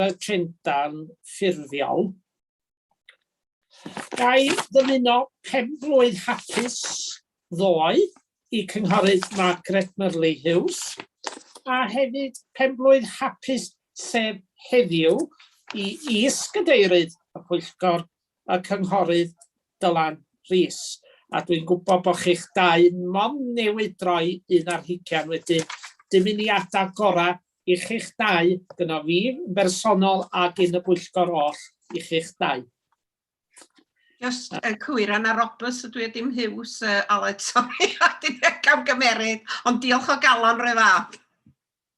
y trendant ffurfiol. Ga i ddymuno pen-blwydd hapus ddoe i Cynghorydd Margaret Murley Hughes, a hefyd pen-blwydd hapus sef heddiw i Is-gadeirydd y Pwyllgor y Cynghorydd Dylan Rees, a dwi'n gwybod bod chi'ch dau mond newydd droi un ar hugain wedyn, dymuniadau gorau i chi'ch dau, gynno fi yn bersonol a gyn y bwyllgor oll i chi'ch dau. Just y cywir yna Roberts ydw i dim Hughes, uh, Aled, sori, a dim camgymeriad, ond diolch o galon rhoi fath.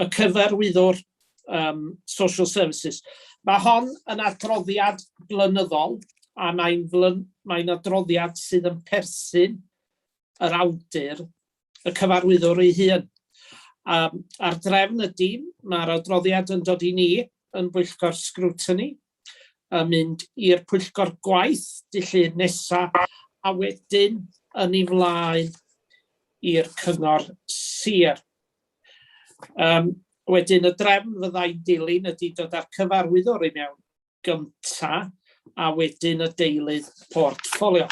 y cyfarwyddwr um, Social Services. Mae hon yn adroddiad blynyddol a mae'n mae adroddiad sydd yn perthyn yr awdur, y cyfarwyddwr ei hun. Um, a'r drefn ydy, mae'r adroddiad yn dod i ni yn bwyllgor scrutiny, yn mynd i'r pwyllgor gwaith dillun nesa a wedyn yn ei flaen i'r cyngor sir. Um, wedyn y drefn fyddai'n dilyn ydy dod â'r cyfarwyddwr i mewn gynta a wedyn y deilydd portffolio.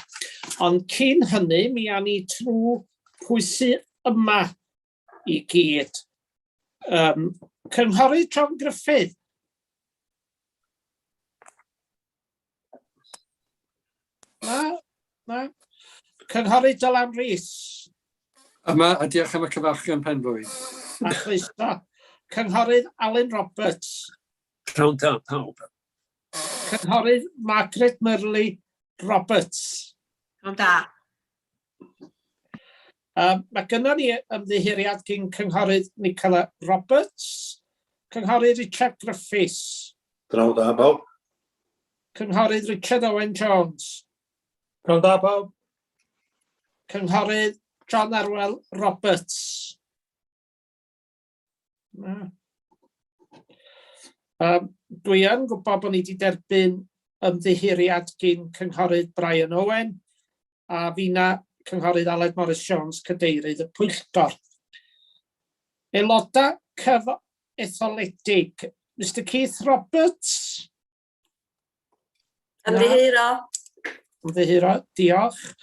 Ond cyn hynny, mi a ni trwy pwysi yma i gyd. Um, Cynghorydd John Griffith. Na, na. Cynghorydd Dylan Rhys. Yma, a diolch am y cyfarchion pen blwydd. A chlyso. Cynghorydd Alun Roberts. Cawn da, pawb. Cynghorydd Margaret Murley Roberts. Cawn da. Um, mae gynnon ni ymddiheuriad gyn Cynghorydd Nicola Roberts, Cynghorydd Richard Griffiths. Draw da, bawb. Cynghorydd Richard Owen Jones. Draw da, bawb. Cynghorydd John Arwel Roberts. Na. Um, dwi yn gwybod bod ni wedi derbyn ymddiheuriad gyn Cynghorydd Brian Owen a fina Cynghorydd Aled Morris Jones, Cadeirydd y Pwyllgor. Aelodau cyf etholedig, Mr Keith Roberts. Ymddiheuro. Ymddiheuro, diolch.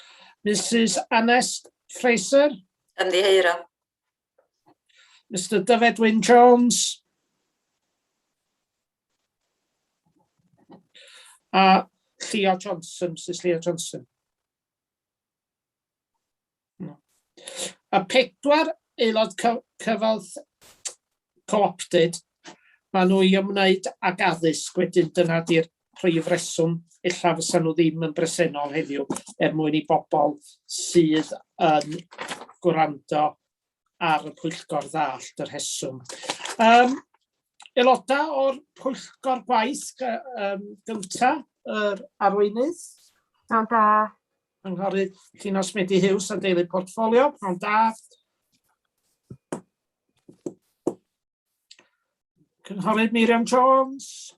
Mrs Anest Fraser. Ymddiheuro. Mr Dyfed Wyn Jones. A Llio Johnson, Mrs Llio Johnson. Mae pedwar aelod cy- cyfoeth- co-opted, maen nhw i ymwneud ag addysg wedyn, dyna ydy'r prif reswm ella fysa nhw ddim yn bresennol heddiw, er mwyn i bobl sydd yn gwrando ar y pwyllgor ddallt y rheswm. Um, aelodau o'r pwyllgor gwaith um, gynta, yr arweinydd. Pnawn da, Cynghorydd Llino Smedi Hughes a deulu portffolio, pnawn da. Cynghorydd Miriam Jones.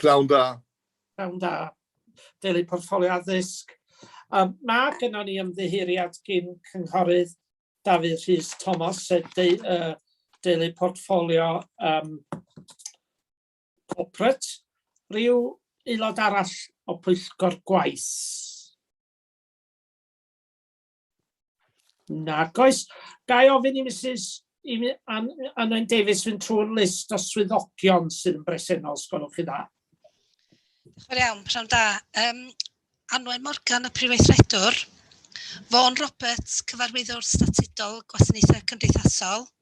Pnawn da. Pnawn da. Deulu portffolio addysg. Um, mae gyda ni ymddiheuriad gyn cynghorydd Dafydd Rhys Thomas, sef de, uh, deulu portffolio um, Corporate. Ryw aelod arall o pwyllgor gwaith? Nag oes. Ga i ofyn i Mrs Anwen Davies fynd trwy'r list o swyddogion sydd yn bresennol, os gwelwch chi dda. Diolch yn iawn, pnawn da. Um, Anwen Morgan, y Prif Weithredwr. Fawn Roberts, Cyfarwyddwr Statudol Gwasanaethau Cymdeithasol.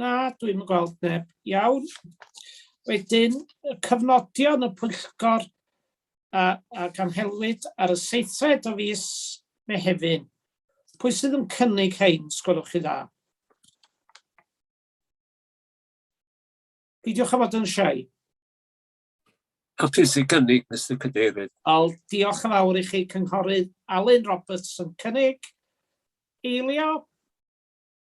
Na, dwi'n yn gweld neb. Iawn. Wedyn, y cyfnodion y pwyllgor a, a ganhelwyd ar y seithfed o fus Mehefin. Pwy sydd yn cynnig hein, sgwrwch chi dda? Peidiwch â fod yn siai. Ac ti sy'n cynnig, Mr Cadeirydd. Al, diolch yn fawr i chi, Cynghorydd Alun Roberts yn cynnig. Eilio?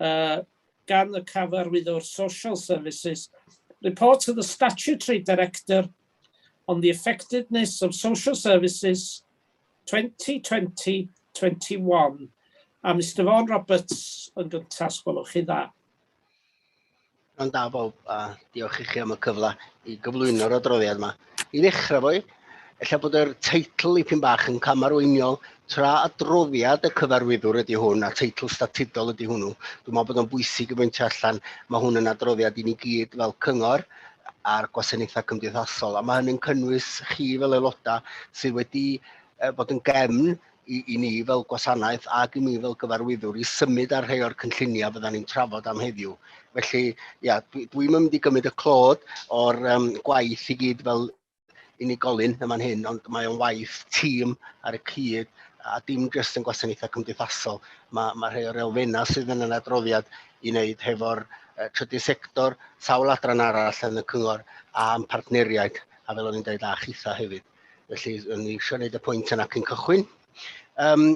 uh, gan y cyfarwyddwr Social Services, report to the Statutory Director on the effectiveness of social services 2020-21 a Mr Vaughan Roberts yn gyntas, gwelwch chi dda. Mae'n da bob, a diolch i chi am y cyfle i gyflwyno'r adroddiad yma. I ddechrau fwy, efallai bod yr teitl i pyn bach yn camarweiniol, tra adroddiad y cyfarwyddwr ydy hwn, a teitl statudol ydy hwnnw. Dwi'n meddwl bod o'n bwysig i bwyntio allan, mae hwn yn adroddiad i ni gyd fel cyngor a'r gwasanaethau cymdeithasol, a mae hynny'n cynnwys chi fel aelodau sydd wedi bod yn gefn i, i ni fel gwasanaeth ac i mi fel gyfarwyddwr i symud ar rhai o'r cynlluniau fydda ni'n trafod am heddiw. Felly, ia, dwi, dwi'n mynd i gymryd y clod o'r um, gwaith i gyd fel unigolyn yma'n hyn, ond mae o'n waith tîm ar y cyd a dim jyst yn gwasanaethau cymdeithasol. Mae, mae rhai o'r elfennau sydd yn yr adroddiad i wneud hefo'r uh, trydydd sector, sawl adran arall yn y cyngor a'n partneriaid, a fel o'n i'n dweud, a chitha hefyd. Felly, o'n i eisiau gwneud y pwynt yna cyn cychwyn. Um,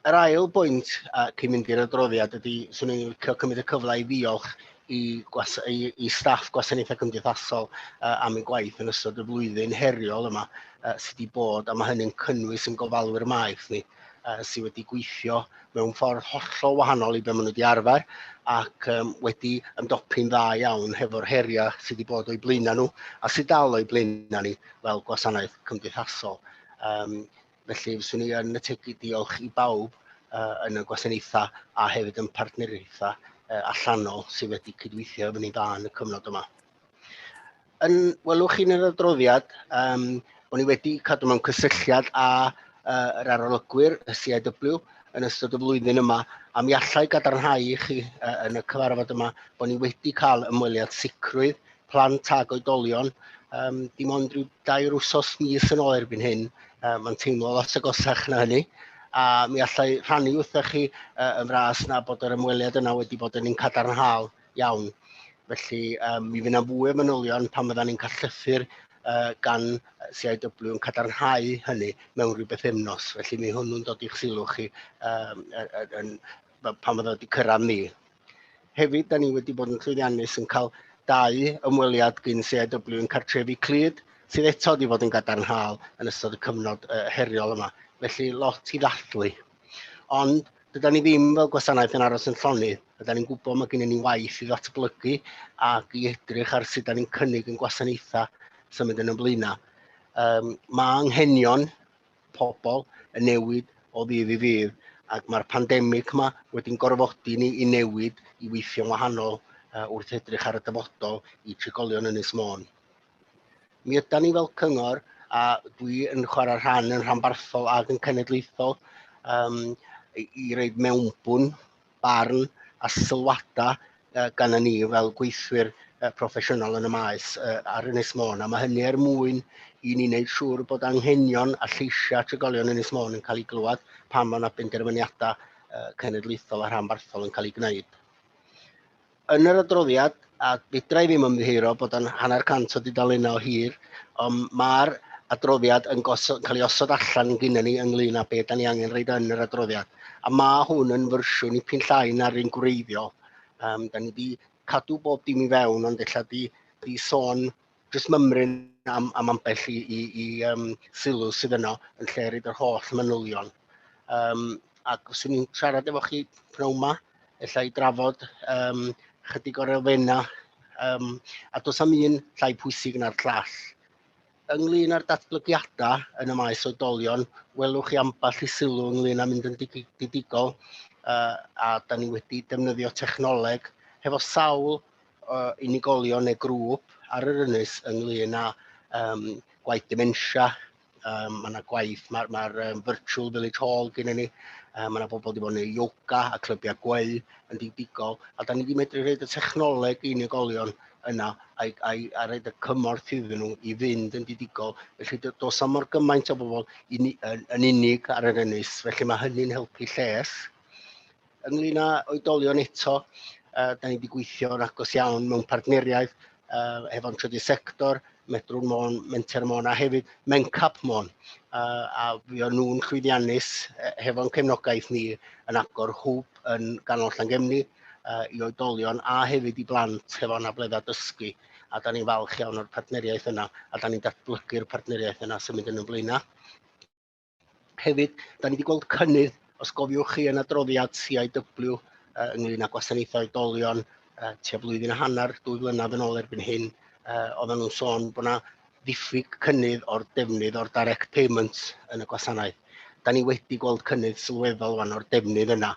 yr ail bwynt ac i mynd i'r adroddiad ydy, swn i'n licio cymryd y cyfle i ddiolch i, gwas, i, i staff gwasanaethau cymdeithasol uh, am eu gwaith yn ystod y flwyddyn heriol yma uh, sydd wedi bod, a mae hynny'n cynnwys yn gofalwyr maeth ni. uh, sydd wedi gweithio mewn ffordd hollol wahanol i be maen nhw wedi arfer ac um, wedi ymdopi'n dda iawn hefo'r heriau sydd wedi bod o'i blaenau nhw a sydd dal o'i blaenau ni fel gwasanaeth cymdeithasol. Um, felly, fyswn ni yn y tegu diolch i bawb uh, yn y gwasanaethau a hefyd yn partneriaethau uh, allanol sydd wedi cydweithio efo ni dda yn y cyfnod yma. Yn welwch chi'n yr adroddiad, um, o'n i wedi cadw mewn cysylltiad â uh, yr arolygwyr, y CIW, yn ystod y flwyddyn yma, a mi allai gadarnhau i chi uh, yn y cyfarfod yma bod ni wedi cael ymweliad sicrwydd plant ag oedolion, um, dim ond rhyw dair wsos mis yn ôl erbyn hyn, uh, mae'n teimlo lot agosach na hynny, a mi allai rhannu wrthych chi uh, yn fras na bod yr ymweliad yna wedi bod yn un cadarnhaol Iawn. Felly, um, mi fydd fwy o fanylion pan fyddan ni'n callythu'r uh, gan CIW yn cadarnhau hynny mewn rhyw beth efnos. Felly, mi hwnnw'n dod i'ch sylw chi um, yn, pan fydda wedi cyrraedd ni. Hefyd, da ni wedi bod yn llwyddiannus yn cael dau ymweliad gyn CIW yn cartrefi Clyd, sydd eto wedi bod yn gadarnhaol yn ystod y cyfnod uh, heriol yma. Felly, lot i ddathlu. Ond dyda ni ddim fel gwasanaeth yn aros yn llonydd. Dyda ni'n gwybod mae gennym ni waith i ddatblygu ac i edrych ar sut da ni'n cynnig yn gwasanaethau sy'n mynd yn ymlaenna. Um, mae anghenion pobl yn newid o ddydd i ddydd ac mae'r pandemig yma wedi'n gorfodi ni i newid i weithio'n wahanol uh, wrth edrych ar y dyfodol i trigolion Ynys Môn. Mi ydan ni fel cyngor, a dwi yn chwarae rhan yn rhanbarthol ac yn cenedlaethol, um, i, i reid mewnbwn, barn a sylwadau uh, gan ni fel gweithwyr uh, proffesiynol yn y maes uh, ar Ynys Môn. A mae hynny er mwyn i ni wneud siŵr bod anghenion a lleisiau trigolion Ynys Môn yn cael ei glywed pan mae yna benderfyniadau uh, cenedlaethol a rhanbarthol yn cael ei gwneud. Yn yr adroddiad, a fedra i ddim ymddiheuro bod o'n hanner cant o dudalennau o hir, ond mae'r adroddiad yn gosod, cael ei osod allan gyda ni ynglyn â beth da ni angen reid yn yr adroddiad. A mae hwn yn fersiwn i pyn llai na'r un gwreiddiol. Um, da ni wedi cadw bob dim i fewn, ond ella di, di sôn jyst mymryn am, am ambell i, i, i um, sylw sydd yno yn lle rhaid yr holl manylion. Um, ac os ni'n siarad efo chi pnawn yma, efallai i drafod um, chydig o'r elfenna, um, a dos am un llai pwysig na'r llall. Ynglyn â'r datblygiadau yn y maes oedolion, welwch chi ambell i sylw ynglyn â mynd yn digidol, uh, a da ni wedi defnyddio technoleg hefo sawl unigolion neu grŵp ar yr ynys ynglyn â um, gwaith dementia, um, mae yna gwaith, mae'r ma, um, virtual village hall gen i ni, um, mae yna bobl wedi bod yn ei yoga a clybiau gweu yn digdigol, a da ni wedi medru rhaid y technoleg i unigolion yna a, a, a rhaid y cymorth iddyn nhw i fynd yn digdigol. Felly dos am mor gymaint o bobl yn, yn unig ar yr ynys, felly mae hynny'n helpu lles. Ynglyn â oedolion eto, uh, da ni wedi gweithio yn agos iawn mewn partneriaeth uh, hefo'n trydydd sector, Medrwn Môn, Menter Môn a hefyd Mencap Môn. Uh, a fi o'n nhw'n llwyddiannus uh, hefo'n cefnogaeth ni yn agor hwb yn ganol Llangemni uh, i oedolion a hefyd i blant hefo'n abledda dysgu. A da ni'n falch iawn o'r partneriaeth yna a da ni'n datblygu'r partneriaeth yna sy'n mynd yn y blaenau. Hefyd, da ni wedi gweld cynnydd, os gofiwch chi, yn adroddiad CIW uh, ynglyn â gwasanaethau oedolion uh, tua blwyddyn a hanner, dwy flynedd yn ôl erbyn hyn, uh, oedden nhw'n sôn bod yna ddiffyg cynnydd o'r defnydd o'r direct payments yn y gwasanaeth. Da ni wedi gweld cynnydd sylweddol fan o'r defnydd yna,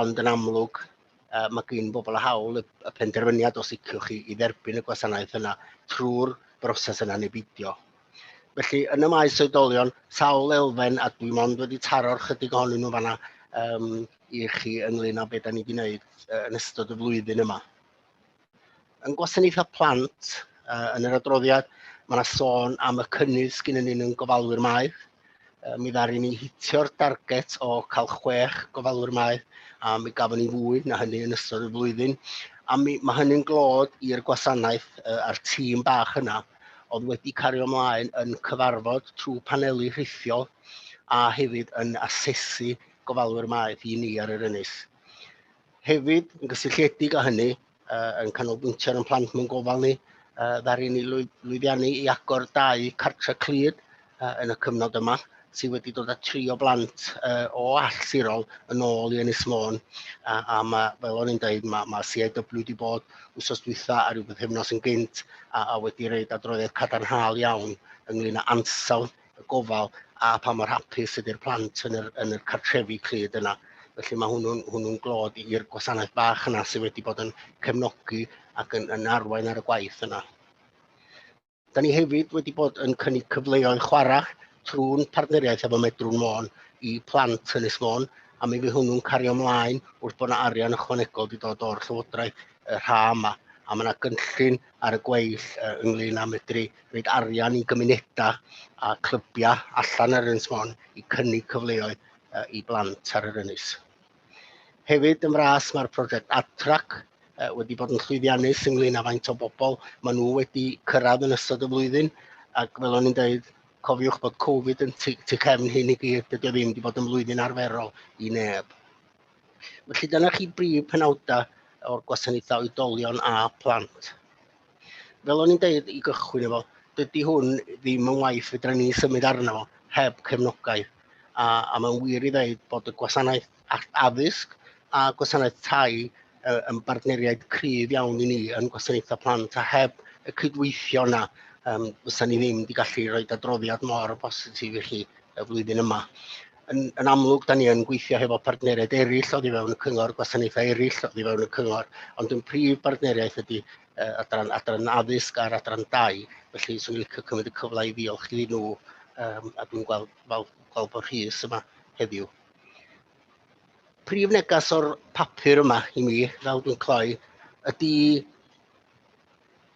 ond yn amlwg uh, mae gen bobl a hawl y, y penderfyniad os iciwch chi i dderbyn y gwasanaeth yna trwy'r broses yna neu beidio. Felly, yn y maes oedolion, sawl elfen, a dwi mond wedi taro'r chydig ohonyn nhw fanna um, i chi ynglyn â beth da ni wedi gwneud uh, yn ystod y flwyddyn yma. Yn gwasanaethau plant, uh, yn yr adroddiad, mae yna sôn am y cynnydd sgyn yn ni'n gofalwyr maeth, Yy, mi ddaru ni hitio'r darget o cael chwech gofalwr maeth, a mi gafon ni fwy na hynny yn ystod y flwyddyn. A mi, mae hynny'n glod i'r gwasanaeth uh, a'r tîm bach yna oedd wedi cario ymlaen yn cyfarfod trwy paneli rhithiol a hefyd yn asesu gofalwyr maeth i ni ar yr ynys. Hefyd, yn gysylltiedig â hynny, uh, yn canolbwyntio ar ein plant mewn gofal ni, uh, ddaru ni lwyddiannu i agor dau cartre clyd uh, yn y cyfnod yma, sydd wedi dod â tri o blant uh, o all sirol yn ôl i Ynys Môn. A, a mae, fel o'n i'n dweud, mae, mae CIW wedi bod wsos dwytha a rhyw bythefnos yn gynt a, a wedi reid adroddiad cadarnhaol iawn ynglyn â ansawdd y gofal a pa mor hapus ydy'r plant yn yr, yn yr cartrefi clyd yna. Felly mae hwnnw'n hwnnw glod i'r gwasanaeth bach yna sydd wedi bod yn cefnogi ac yn, yn arwain ar y gwaith yna. Da ni hefyd wedi bod yn cynnig cyfleoedd chwarae trwy'n partneriaeth efo Medrwn Môn i plant yn Ysmôn, a mi fydd hwnnw'n cario ymlaen wrth bod yna arian ychwanegol wedi dod o'r Llywodraeth y rha yma. A mae yna gynllun ar y gweill uh, ynglyn â medru rhaid arian i gymunedau a clybiau allan ar Ynys Mon i cynnig cyfleoedd uh, i blant ar yr ynys. Hefyd yn fras mae'r prosiect AdTrack uh, wedi bod yn llwyddiannus ynglyn â faint o bobl maen nhw wedi cyrraedd yn ystod y flwyddyn ac fel o'n i'n dweud cofiwch bod Covid yn tu, tu cefn hyn i gyd, dydy o ddim wedi bod yn flwyddyn arferol i neb. Felly dyna chi brif penawdau o'r gwasanaethau oedolion a phlant. Fel o'n i'n deud i gychwyn efo, dydy hwn ddim yn waith fydra ni symud arno fo heb cefnogaeth. A, a mae'n wir i ddeud bod y gwasanaeth addysg a gwasanaeth tai yn bartneriaid cryf iawn i ni yn gwasanaethau plant a heb y cydweithio yna um, fysa ni ddim wedi gallu rhoi adroddiad mor bositif i chi y flwyddyn yma. yn, yn amlwg, da ni yn gweithio hefo partneriaid eraill oddi fewn y cyngor, gwasanaethau eraill oddi fewn y cyngor, ond yn prif bartneriaeth ydy uh, adran, adran addysg a'r adran dau. Felly, swn i'n licio cymryd y cyfle i ddiolch i nhw, um, a dwi'n gweld, gweld, gweld bod Rhys yma heddiw. Prif negas o'r papur yma i mi, fel dwi'n cloi, ydy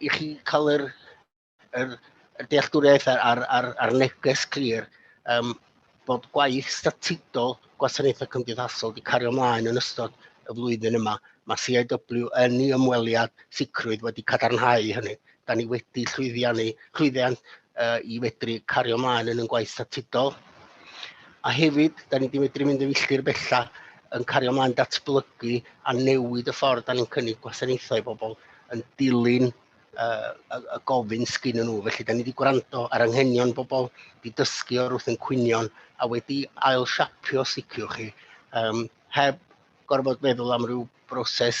i chi cael yr yr dealltwriaeth a'r, ar, ar, ar neges clir um, bod gwaith statudol gwasanaethau cymdeithasol wedi cario ymlaen yn ystod y flwyddyn yma. Mae CIW yn ei ymweliad sicrwydd wedi cadarnhau hynny. Da ni wedi llwyddiannu, llwyddiant uh, i fedru cario ymlaen yn y gwaith statudol. A hefyd, da ni wedi medru mynd yn filltir bellach yn cario ymlaen datblygu a newid y ffordd da ni'n cynnig gwasanaethau i bobl yn dilyn uh, y, y gofyn sgyn nhw. Felly, da ni wedi gwrando ar anghenion bobl, wedi dysgu o'r wrth yn cwynion, a wedi ail siapio sicr chi, um, heb gorfod meddwl am ryw broses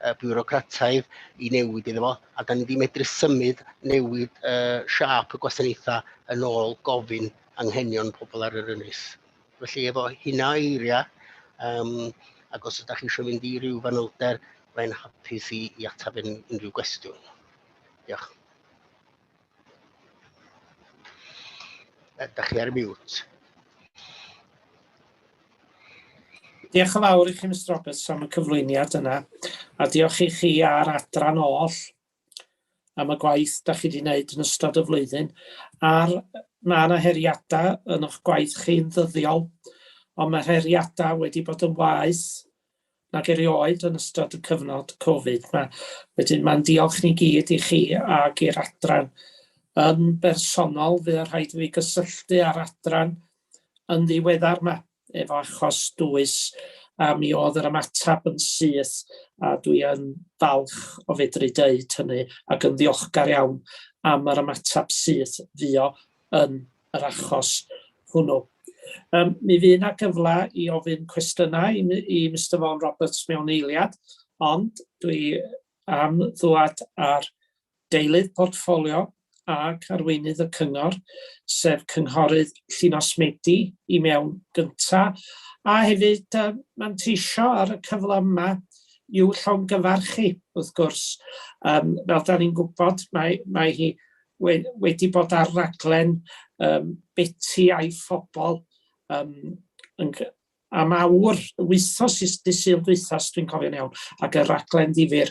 uh, biwrocrataidd i newid iddo fo, a da ni wedi medru symud newid uh, siap y gwasanaethau yn ôl gofyn anghenion pobl ar yr ynys. Felly efo hynna eiriau, um, ac os ydych chi eisiau mynd i ryw fanylder, Mae'n hapus i, i ateb yn unrhyw gwestiwn. Diolch. Ydych chi ar y miwt? Diolch yn fawr i chi, Mr Roberts, am y cyflwyniad yna, a diolch i chi a'r adran oll am y gwaith dach chi 'di neud yn ystod y flwyddyn a'r yy ma' 'na heriada yn o'ch gwaith chi'n ddyddiol ond ma'r heriada wedi bod yn waeth nag erioed yn ystod y cyfnod Covid 'ma. Wedyn ma'n diolch ni gyd i chi ag i'r adran. Yn bersonol fuo rhaid i fi gysylltu â'r adran yn ddiweddar 'ma efo achos dwys a mi oedd yr ymateb yn syth a dwi yn falch o fedru deud hynny ac yn ddiolchgar iawn am yr ymateb syth fuo yn yr achos hwnnw. Um, mi fydd yna gyfle i ofyn cwestiynau i, i Mr Vaughan Roberts mewn eiliad, ond dwi am ddwad ar Deilydd Portffolio ac Arweinydd y Cyngor, sef Cynghorydd Llinos Medi, i mewn gyntaf, a hefyd yy manteisio ar y cyfle yma i'w llongyfarchu, wrth gwrs. Yym fel 'dan ni'n gwybod, mae mae hi we- wedi bod ar raglen yym Beti a'i Phobol yym yn g- am awr, wythnos is- dydd Sul dwytha, os dwi'n cofio'n iawn, ac y raglen ddifyr.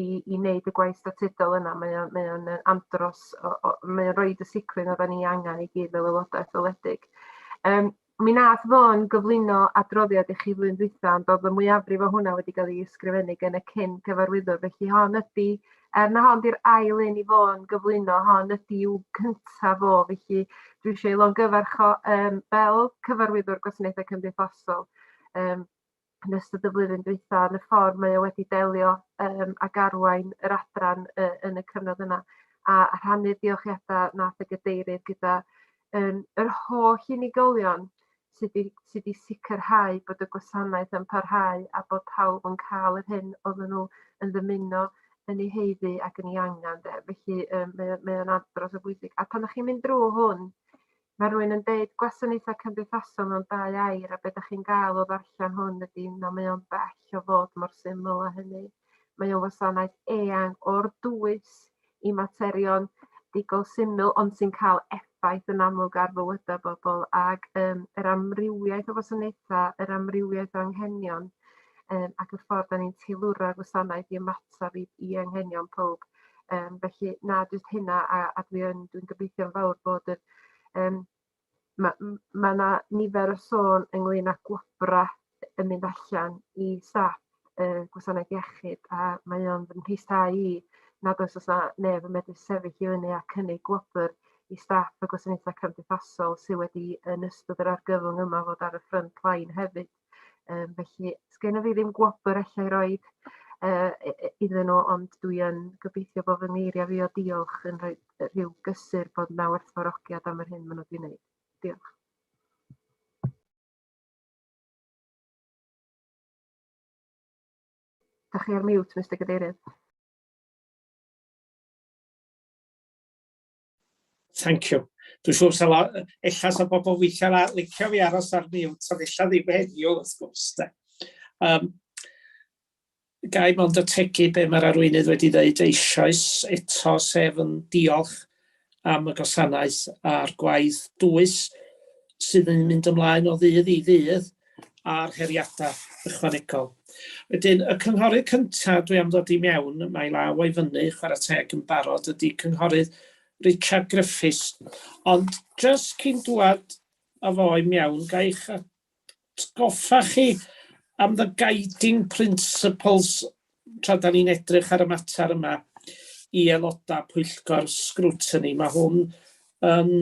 i i wneud y gwaith statudol yna mae o'n mae o'n yy andros o o mae o'n roid y sicrwydd oddan ni angan i gyd fel aeloda etholedig. Yym mi nath Fôn gyflwyno adroddiad i chi flwyddyn dwytha ond o'dd y mwyafrif o hwnna wedi ga'l 'i ysgrifennu gen y cyn cyfarwyddwr felly hon ydi er na hon 'di'r ail un i Fôn gyflwyno hon ydi i'w cynta fo felly dwi isio 'i longyfarch o yym fel cyfarwyddwr gwasanaethau cymdeithasol yym yn ystod y flwyddyn dwytha yn y ffordd mae o wedi delio yym ag arwain yr adran yy yn y cyfnod yna a a rhannu'r diolchiada nath y gadeirydd gyda yym yr holl unigolion sy 'di sy 'di sicrhau bod y gwasanaeth yn parhau a bod pawb yn ca'l yr hyn odden nhw yn ddymuno yn ei heiddi ac yn ei angan de felly yym mae o mae o'n andros o bwysig a pan 'dach chi'n mynd drw hwn Mae rhywun yn deud gwasanaethau cymdeithasol mewn dau air a be da chi'n gael o ddarllen hwn ydy na mae o'n bell o fod mor syml a hynny. Mae o'n wasanaeth eang o'r dwys i materion digol syml ond sy'n cael effaith yn amlwg ar fywydau bobl ac um, yr amrywiaeth o wasanaethau, yr amrywiaeth o anghenion um, ac y ffordd da ni'n teilwra'r wasanaeth i ymateb i, i anghenion pob. Um, felly, na, jyst hynna, a, a dwi'n dwi gobeithio'n fawr bod y... Um, mae yna ma, ma nifer o sôn ynglyn â gwobra yn mynd allan i staff uh, gwasanaeth iechyd, a mae o'n fy mheisau i nad oes os na neb yn medru sefyll i fyny a cynnig gwobr i staff y gwasanaethau cymdeithasol sydd wedi yn ystod yr argyfwng yma fod ar y ffrynt lain hefyd. Yym felly sgenna fi ddim gwobr allai roed yy i- i- iddyn nhw ond dwi yn gobeithio bo' fy ngeiriau fi o diolch yn rhoi yy rhyw gysur bod 'na werthfawrogiad am yr hyn ma' nw 'di neud. Diolch. Dach chi ar mute Mister Cadeirydd. Thank you. Dwi'n siŵr sa la, ella sa bobl weithiau la, licio fi aros ar mute, ond ella ddim heddiw, wrth gwrs. De. Um, gai mond ategu be mae'r arweinydd wedi dweud eisoes eto, sef yn diolch am y gwasanaeth a'r gwaith dwys sydd yn mynd ymlaen o ddydd i ddydd. a'r heriadau ychwanegol. Wedyn, y cynghorydd cyntaf dwi am ddod i mewn, mae law o'i fyny, chwarae teg yn barod, ydy cynghorydd Richard Griffiths. Ond jyst cyn dwad a fo i mewn, ga i'ch atgoffa chi am the guiding principles tra da ni'n edrych ar y mater yma i aelodau pwyllgor sgrwtini. Mae hwn yn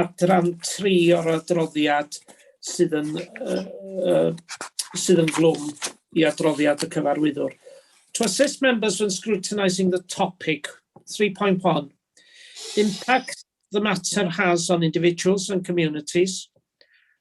adran tri o'r adroddiad sydd yn, uh, uh, sydd yn glwm i adroddiad y cyfarwyddwr. To assist members when scrutinising the topic 3.1 impact the matter has on individuals and communities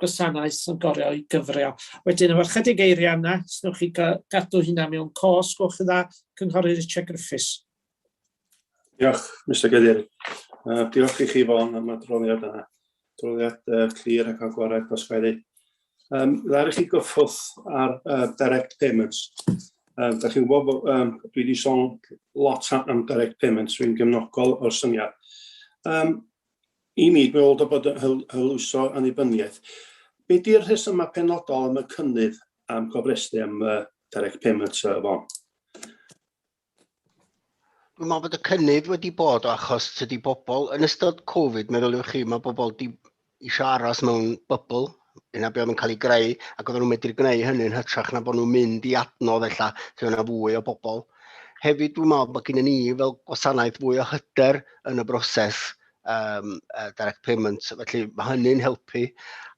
gwasanaeth yn gorfod ei gyfrio. Wedyn, efo chydig eiriau yna, os wnewch chi gadw hynna mewn cos, gwch chi dda, Cynghorydd Richard Griffiths. Diolch, Mr Gyddir. Uh, diolch i chi fo'n am adroddiad yna. Adroddiad uh, clir ac agored os gael ei. Um, Ddar i chi gyffwrdd ar uh, direct payments. Um, da chi'n gwybod, um, dwi wedi sôn lot am direct payments, dwi'n gymnogol o'r syniad. Um, I mi, dw i'n meddwl dy bod yn hwyluso annibyniaeth. Be di'r rhesymau penodol am y cynnydd am gofrestru am y direct payment yy Fon? Dwi'n meddwl bod y cynnydd wedi bod o achos tydi bobl yn ystod Covid, meddyliwch chi, mae bobl di eisiau aros mewn bybl yna be oedd yn cael ei greu, ac oedden nhw'n medru gwneud hynny'n hytrach na bod nhw'n mynd i adnodd ella lle yna fwy o bobl. Hefyd dwi'n meddwl bod gen ni fel gwasanaeth fwy o hyder yn y broses um, uh, direct payments, felly mae hynny'n helpu.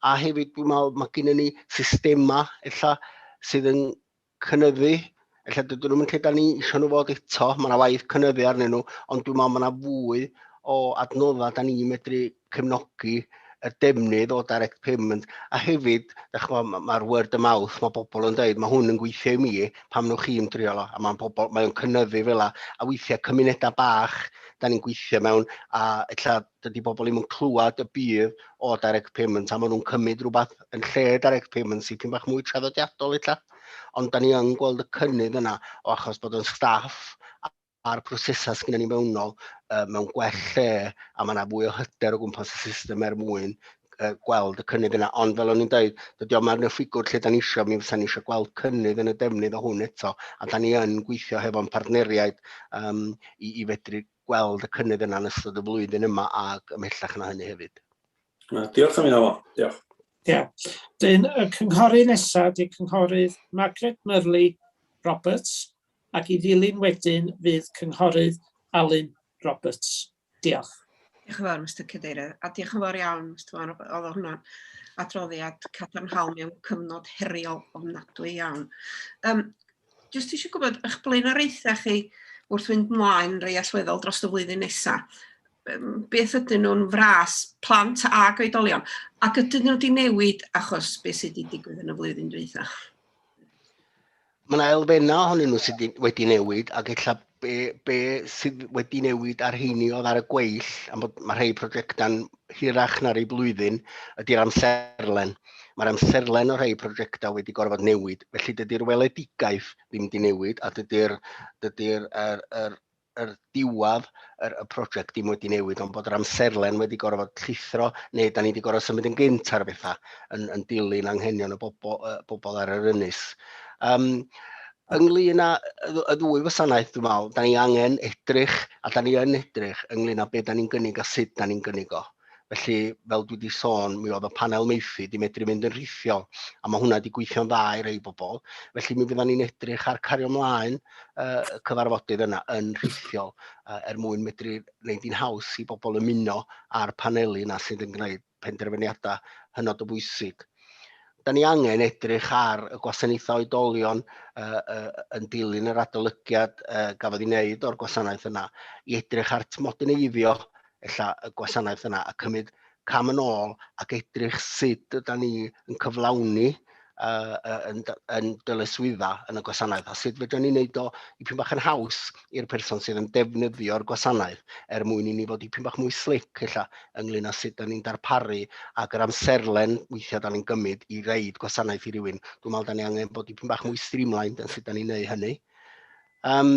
A hefyd dwi'n meddwl mae gen ni systemau ella sydd yn cynyddu, ella dydyn nhw'n lle da ni eisiau nhw fod eto, mae yna waith cynyddu arnyn nhw, ond dwi'n meddwl mae yna fwy o adnoddau da ni'n medru cefnogi y defnydd o direct payment, a hefyd, mae'r word of mouth, mae bobl yn dweud, mae hwn yn gweithio i mi, pam nhw chi'n drio lo, a mae'n pobl, mae'n cynyddu fel a, a weithiau cymunedau bach, da ni'n gweithio mewn, a illa dydy bobl ddim yn clywed y budd o direct payments a maen nhw'n cymryd rhywbeth yn lle direct payments sy'n pyn bach mwy traddodiadol eitha. Ond da ni yn gweld y cynnydd yna o achos bod yn staff a'r prosesau sy'n ni mewnol uh, mewn gwell lle a mae yna fwy o hyder o gwmpas y system er mwyn uh, gweld y cynnydd yna. Ond fel o'n i'n dweud, dydy o'm arno ffigwr lle da ni eisiau, mi fysa ni eisiau gweld cynnydd yn y defnydd o hwn eto, a da ni yn gweithio hefo'n partneriaid um, i, i fedru gweld y cynnydd yna yn ystod y flwyddyn yma ac ymhellach na hynny hefyd. Diolch am hynna, Alon. Diolch. Ia. Dyn, y cynghori nesaf, dyn cynghorydd Margaret Murley Roberts, ac i ddilyn wedyn fydd cynghorydd Alun Roberts. Diolch. Diolch yn fawr, Mr Cadeirydd, a diolch yn fawr iawn, Mr Wan, oedd hwnna'n adroddiad cadarnhaol mewn cyfnod heriol ofnadwy iawn. Um, Jyst eisiau gwybod eich blaenoriaethau chi wrth fynd mlaen rei allweddol dros y flwyddyn nesaf. Beth ydyn nhw'n fras plant a goedolion? Ac ydyn nhw wedi newid achos beth sydd wedi digwydd yn y flwyddyn dwytha? Mae yna elfennau ohonyn nhw sydd wedi newid ac efallai be, be sydd wedi newid ar heini oedd ar y gweill, am bod mae rhai prosiectau'n hirach na'r ei blwyddyn, ydy'r amserlen. Mae'r amserlen o rhai prosiectau wedi gorfod newid, felly dydy'r weledigaeth ddim wedi newid, a dydy'r dydy er, er, er, er diwad er, y prosiect ddim wedi newid, ond bod yr amserlen wedi gorfod llithro, neu da ni wedi gorfod symud yn gynt ar bethau, yn, yn dilyn anghenion y bobl, uh, bobl ar yr ynys. Um, Ynglyn â y ddwy wasanaeth, dwi'n meddwl, da ni angen edrych, a da ni yn edrych, ynglyn â beth da ni'n gynnig a sut da ni'n gynnig o. Felly, fel dwi wedi sôn, mi oedd y panel meithi di medru mynd yn rhithiol, a mae hwnna wedi gweithio'n dda i rei bobl. Felly mi fyddan ni'n edrych ar cario mlaen uh, cyfarfodydd yna yn rhithiol uh, er mwyn medru wneud i'n haws i bobl ymuno a'r paneli yna sydd yn gwneud penderfyniadau hynod o bwysig. Da ni angen edrych ar y gwasanaethau oedolion uh, uh, yn dilyn yr adolygiad uh, gafodd ei wneud o'r gwasanaeth yna, i edrych ar tmodyneiddio ella y gwasanaeth yna a cymryd cam yn ôl ac edrych sut yda ni yn cyflawni uh, yn, yn dylai swydda yn y gwasanaeth a sut fydden ni'n neud o i pyn bach yn haws i'r person sydd yn defnyddio'r gwasanaeth er mwyn i ni fod i pyn bach mwy slic illa ynglyn â sut da ni'n darparu ac yr amserlen weithiau da ni'n gymryd i reid gwasanaeth i rywun. Dwi'n meddwl da ni angen bod i pyn bach mwy streamlined yn sut da ni'n neud hynny. Um,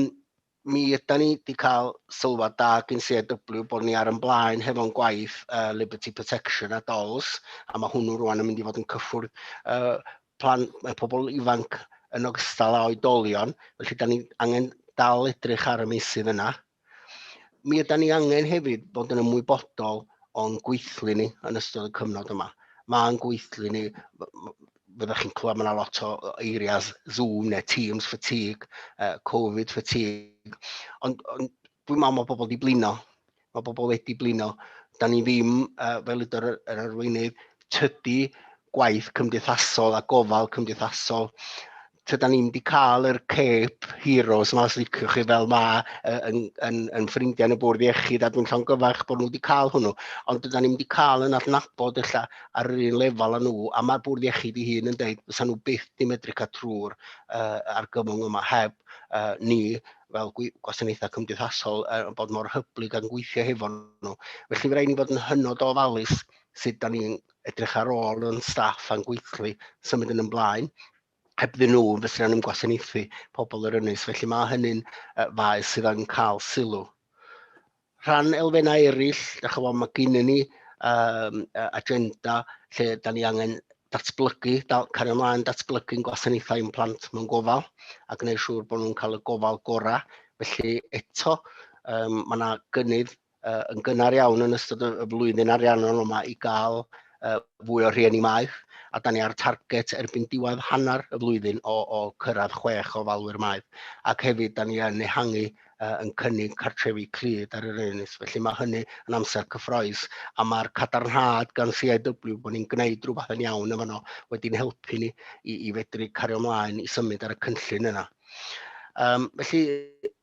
mi ydan ni wedi cael sylwad da gyn CAW bod ni ar yn blaen hefo'n gwaith uh, Liberty Protection a DOLS, a mae hwnnw rwan yn mynd i fod yn cyffwrdd uh, plan, uh, pobl ifanc yn ogystal â oedolion, felly da ni angen dal edrych ar y meysydd yna. Mi ydan ni angen hefyd bod yn ymwybodol o'n gweithlu ni yn ystod y cyfnod yma. Mae'n gweithlu ni, fyddwch chi'n clywed mae yna lot o eiriau Zoom neu Teams fatigue, uh, Covid fatigue, ond, ond dwi'n meddwl mae pobl wedi blino, mae pobl wedi blino. Da ni ddim, uh, fel ydw'r yr arweinydd, tydi gwaith cymdeithasol a gofal cymdeithasol tyda ni'n di cael yr Cape Heroes yma, os liciwch chi fel ma, yn, yn, yn ffrindiau yn y bwrdd iechyd, a dwi'n llongyfarch bod nhw wedi cael hwnnw, ond dyda ni'n di cael yn adnabod illa ar yr un lefel â nhw, a mae'r bwrdd iechyd i hun yn dweud, fysa nhw byth di medru cael trwy'r uh, argymwng yma heb uh, ni fel gwasanaethau cymdeithasol uh, bod mor hyblyg ac yn gweithio hefo nhw. Felly fe rhaid ni fod yn hynod o ofalus sut da ni'n edrych ar ôl yn staff a'n gweithlu symud yn ymlaen hebddyn nhw fysa nhw'n gwasanaethu pobl yr ynys. Felly mae hynny'n uh, faes sydd yn cael sylw. Rhan elfennau eraill, da chi fod, mae gen ni um, agenda lle da ni angen datblygu, da, cario ymlaen datblygu'n gwasanaethau yn plant mewn gofal a gwneud siŵr bod nhw'n cael y gofal gorau. Felly eto, um, mae yna gynnydd uh, yn gynnar iawn yn ystod y flwyddyn ariannol yma i gael uh, fwy o rhieni maeth, a da ni ar target erbyn diwedd hanner y flwyddyn o, o cyrraedd chwech o falwyr maeth, ac hefyd da ni yn ehangu uh, yn cynnig cartrefi clyd ar yr enys. Felly mae hynny yn amser cyffroes, a mae'r cadarnhad gan CIW bod ni'n gwneud rhywbeth yn iawn yma no, wedi'n helpu ni i, i fedru cario ymlaen i symud ar y cynllun yna. Um, felly,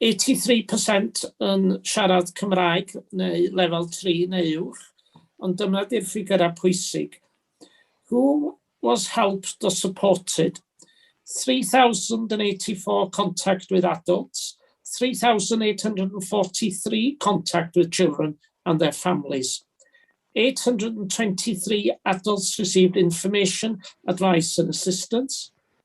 83 per cent yn siarad Cymraeg neu lefel tri neu uwch, ond dyma di'r ffigyrau pwysig. Who was helped or supported? 3,084 contact with adults, 3,843 contact with children and their families, 823 adults received information, advice and assistance,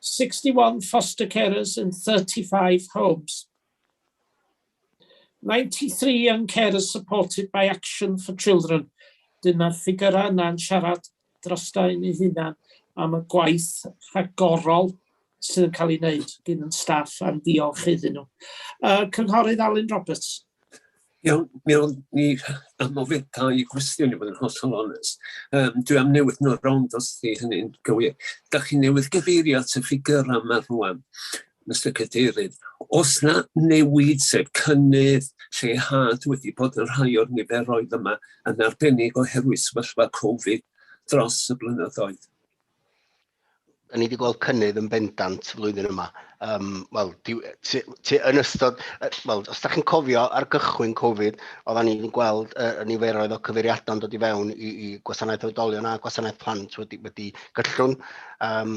61 foster carers in 35 homes, 93 young carers supported by Action for Children. Dyna'r ffigurau yna'n siarad drosta yn ei hunan am y gwaith rhagorol sydd yn cael ei wneud gyn yn staff a'n diolch iddyn nhw. Uh, Cynghorydd Alun Roberts. Iawn, mi o'n ni am ofyn dau gwestiwn i fod yn hollol onest. Um, dwi am newid nhw rownd os di hynny'n gywir. Da chi newydd gyfeirio at y ffigur am ar rwan, Mr Cadeirydd. Os na newid, sef cynnydd, lleihad wedi bod yn rhai o'r niferoedd yma yn arbennig oherwydd sefyllfa Covid dros y blynyddoedd. Y'n ni wedi gweld cynnydd yn bendant flwyddyn yma. Um, Wel, yn ystod, well, os da chi'n cofio ar gychwyn Covid, oedden ni'n gweld uh, niferoedd o cyfeiriadau'n dod i fewn i, i gwasanaeth oedolion a gwasanaeth plant wedi, wedi gyllwn. Um,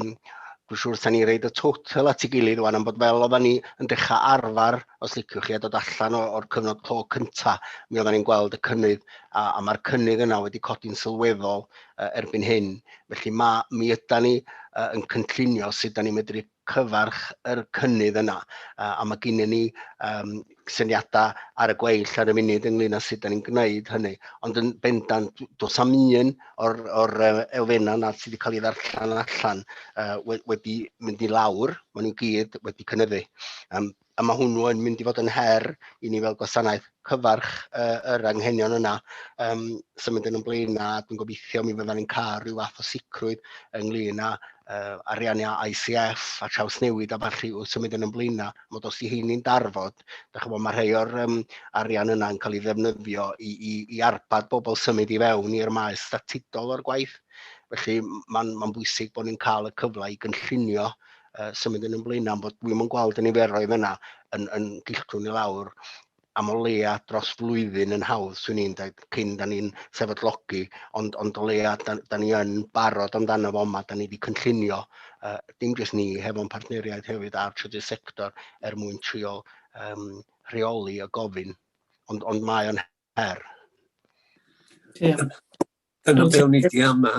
Dwi'n siŵr sa'n ni reid y total at ei gilydd o'n am bod fel oedden ni yn dechrau arfer, os liciwch chi, a dod allan o'r cyfnod clo cynta, mi oedden ni'n gweld y cynnydd, a, a mae'r cynnydd yna wedi codi'n sylweddol erbyn hyn. Felly ma', mi ydan ni yy yn cynllunio sut dan ni'n medru cyfarch yr cynnydd yna yy a ma' gynnon ni yym syniada ar y gweill ar y munud ynglŷn â sut dan ni'n gwneud hynny. Ond yn bendant d- do's na'm un o'r o'r yy elfenna' 'na sydd wedi cael ei ddarllen allan yy we- wedi mynd i lawr, ma' nhw gyd wedi cynyddu. Yym a mae hwnnw yn mynd i fod yn her i ni fel gwasanaeth cyfarch uh, yr anghenion yna um, symud yn ymlaen a dwi'n gobeithio mi fyddan ni'n cael rhyw fath o sicrwydd ynglyn â uh, ariannu ICF a traws newid a falle wrth symud yn ymlaen a mod os i heini'n darfod, da chybod mae rhai o'r um, arian yna yn cael ei ddefnyddio i, i, i arbad bobl symud i fewn i'r maes statudol o'r gwaith. Felly mae'n ma bwysig bod ni'n cael y cyfle i gynllunio uh, symud yn ymlaen am bod dwi'm yn gweld y niferoedd yna yn, yn dilltwn i lawr am o leia dros flwyddyn yn hawdd, swn i'n dweud, cyn da ni'n sefydlogi, ond, ond o leia da, da ni yn barod amdano fo yma, da ni wedi cynllunio, uh, dim jyst ni, hefo'n partneriaid hefyd a'r trydydd sector er mwyn trio um, rheoli y gofyn. Ond, ond mae o'n R. Diolch. Dyna be o'n i di ama.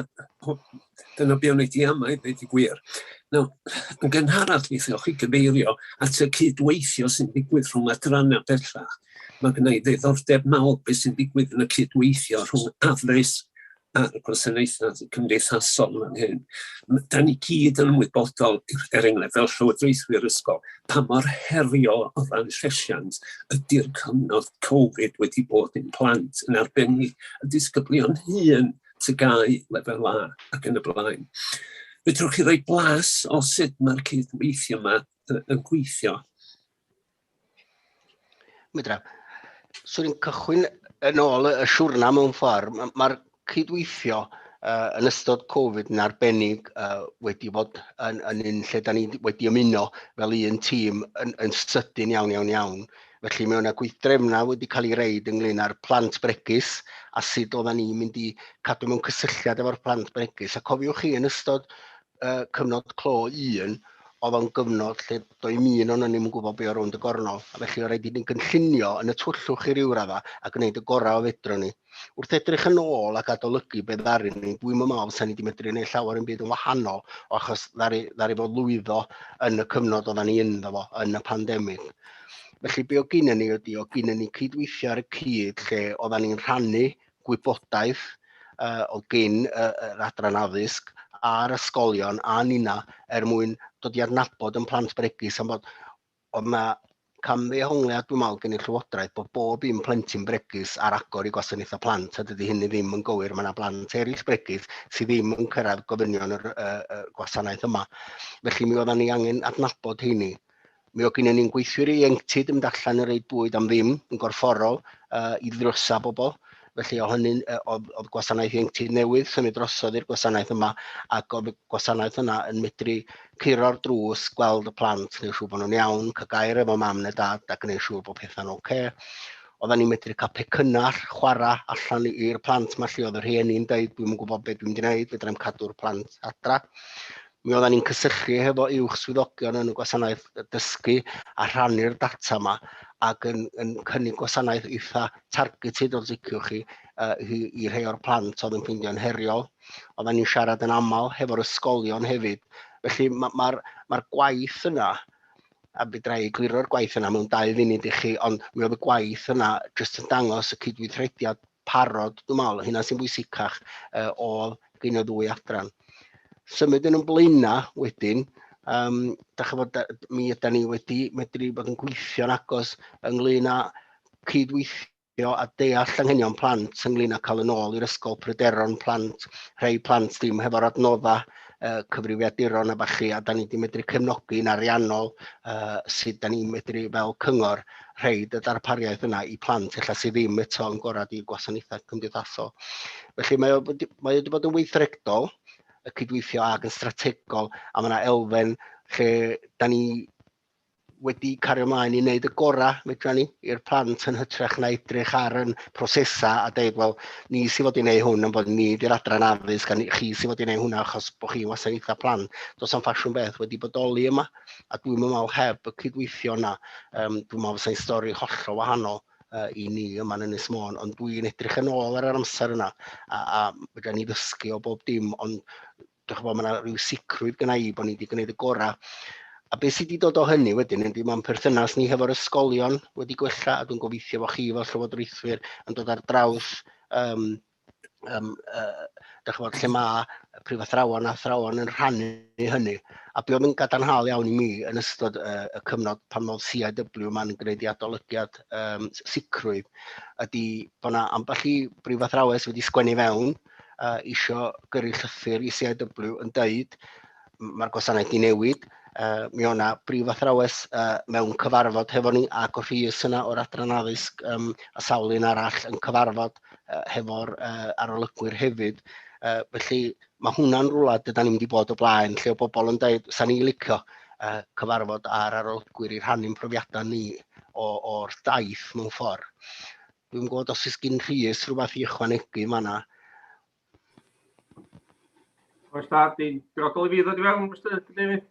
Dyna be o'n i di ama i ddweud i gwir. Nawr, yn gynharach mi ddewch chi gyfeirio at y cydweithio sy'n digwydd rhwng adrannau bellach. Mae gennau i ddiddordeb mawr beth sy'n digwydd yn y cydweithio rhwng afres a'r gwasanaethau cymdeithasol fan hyn. Da ni gyd yn ymwybodol, er enghraifft, fel llywodraethwyr ysgol, pa mor heriol o ran llesiant ydy'r cyfnod Covid wedi bod yn plant, yn arbennig y disgyblion hyn, tygau, lefel A ac yn y blaen. Fedrwch chi roi blas o sut mae'r cydweithio yma yn gweithio? Mwydra, swn i'n cychwyn yn ôl y siwrna mewn ffordd. Mae'r cydweithio uh, yn ystod Covid yn arbennig uh, wedi bod yn, yn un lle da ni wedi ymuno fel un tîm yn, yn sydyn iawn, iawn, iawn. Felly mae yna gweithdrefnau wedi cael ei reid ynglyn â'r plant bregus a sut oedden ni'n mynd i cadw mewn cysylltiad efo'r plant bregus. A cofiwch chi yn ystod uh, cyfnod clo un, oedd o'n gyfnod lle doedd un o'n ni'n gwybod beth o'r rownd y gornol. A felly, oedd rhaid i ni'n gynllunio yn y twyllwch i ryw radda a gwneud y gorau o fedro ni. Wrth edrych yn ôl ac adolygu beth ddaru ni, dwi'n mynd mawr sa'n ni wedi medru gwneud llawer yn byd yn wahanol, o achos ddari, ddari fod lwyddo yn y cyfnod oedden ni ynddo fo, yn y pandemig. Felly, be o gyn ni ydy, o gyn ni cydweithio ar y cyd lle oedden ni'n rhannu gwybodaeth o gyn yr Adran Addysg a'r ysgolion a ninna er mwyn dod i adnabod yn plant bregus am bod ond mae camddehongliad dwi'n meddwl gen i'r Llywodraeth bod bob un plentyn bregus ar agor i gwasanaethau plant a dydy hynny ddim yn gywir, mae yna blant eraill bregus sydd ddim yn cyrraedd gofynion yr uh, uh, gwasanaeth yma. Felly mi oeddan ni angen adnabod heini Mi oedd gynnon ni'n gweithwyr ieuenctid yn mynd allan yn reid bwyd am ddim yn gorfforol uh, i ddrysa bobl. Felly o hynny, oedd, oedd gwasanaeth ieuenctid newydd symud drosodd i'r gwasanaeth yma ac oedd y gwasanaeth yna yn medru curo'r drws, gweld y plant, gwneud siŵr bod nhw'n iawn, cael gair efo mam neu dad a gwneud siŵr bod pethau'n oce. Okay. Oedden ni'n medru cael pecynnau chwarae allan i'r plant mae lle oedd y rhieni'n dweud dwi'n gwybod beth dwi'n gwneud, fedra i'n cadw'r plant adra. Mi oeddan ni'n cysylltu hefo uwch swyddogion yn y gwasanaeth dysgu a rhannu'r data yma ac yn, yn cynnig gwasanaeth eitha targeted os liciwch chi uh, i, i rhai o'r plant oedd yn ffindio'n heriol. Oeddan ni'n siarad yn aml hefo'r ysgolion hefyd. Felly mae'r ma, ma, gwaith yna, a fydra i gliro'r gwaith yna mewn dau funud i chi, ond mi oedd y gwaith yna jyst yn dangos y cydweithrediad parod, dwi'n meddwl, hynna sy'n bwysicach uh, ôl gyn y ddwy adran. Symud yn ymlaenna wedyn, um, da chi fod, mi ydy ni wedi medru bod yn gweithio'n agos ynglyn â cydweithio gweithio a deall anghenion plant ynglyn â cael yn ôl i'r ysgol pryderon plant, rhai plant ddim hefo'r adnodda uh, cyfrifiaduron a bachu, a da ni wedi medru cefnogi'n ariannol uh, sut da ni'n medru fel cyngor rhoid y darpariaeth yna i plant ella sydd ddim eto yn gorad i'r gwasanaethau cymdeithasol. Felly mae o, mae wedi bod yn weithredol, y cydweithio ag yn strategol, a mae yna elfen lle da ni wedi cario ymlaen i wneud y gorau fedra ni i'r plant yn hytrach na edrych ar yn prosesau a dweud, wel, ni sy'n fod i wneud hwn yn bod ni di'r adran addysg a ni, chi sy'n fod i wneud hwnna achos bod chi'n wasanaethau plan. Does am ffasiwn beth wedi bodoli yma. a dwi'm yn meddwl heb y cydweithio yna, um, dwi'n meddwl fysa'n stori hollol wahanol uh, i ni yma yn Ynys Môn, ond dwi'n edrych yn ôl ar yr amser yna, a, a fydda ni ddysgu o bob dim, ond dwi'n chybod, mae yna rhyw sicrwydd gyda i bod ni wedi gwneud y gorau. A beth sydd wedi dod o hynny wedyn, ydy mae'n perthynas ni hefo'r ysgolion wedi gwella, a dwi'n gobeithio fod chi fel llywodraethwyr yn dod ar draws um, yym yy dach ch'mod lle ma' y prifathrawon a athrawon yn rhannu hynny a be' oedd yn gadarnhaol iawn i mi yn ystod yy y cyfnod pan oedd CIW yma'n gwneud ei adolygiad yym s- sicrwydd ydy bod 'na ambell i brifathrawes wedi sgwennu fewn yy isio gyrru llythyr i CIW yn deud mae'r gwasanaeth di newid. Uh, mi o'na brif athrawes uh, mewn cyfarfod hefo ni ac o rhys yna o'r adran addysg um, a sawl un arall yn cyfarfod uh, hefo'r uh, arolygwyr hefyd. Uh, felly mae hwnna'n rhywle dyda ni'n mynd i bod o blaen lle o bobl yn dweud, sa'n ni licio uh, cyfarfod ar arolygwyr i rhannu'n profiadau ni o'r daith mewn ffordd. Dwi'n gwybod os ys gyn rhys rhywbeth i ychwanegu yma yna. Oes da, di'n grodol i fi ddod i fewn, Mr David?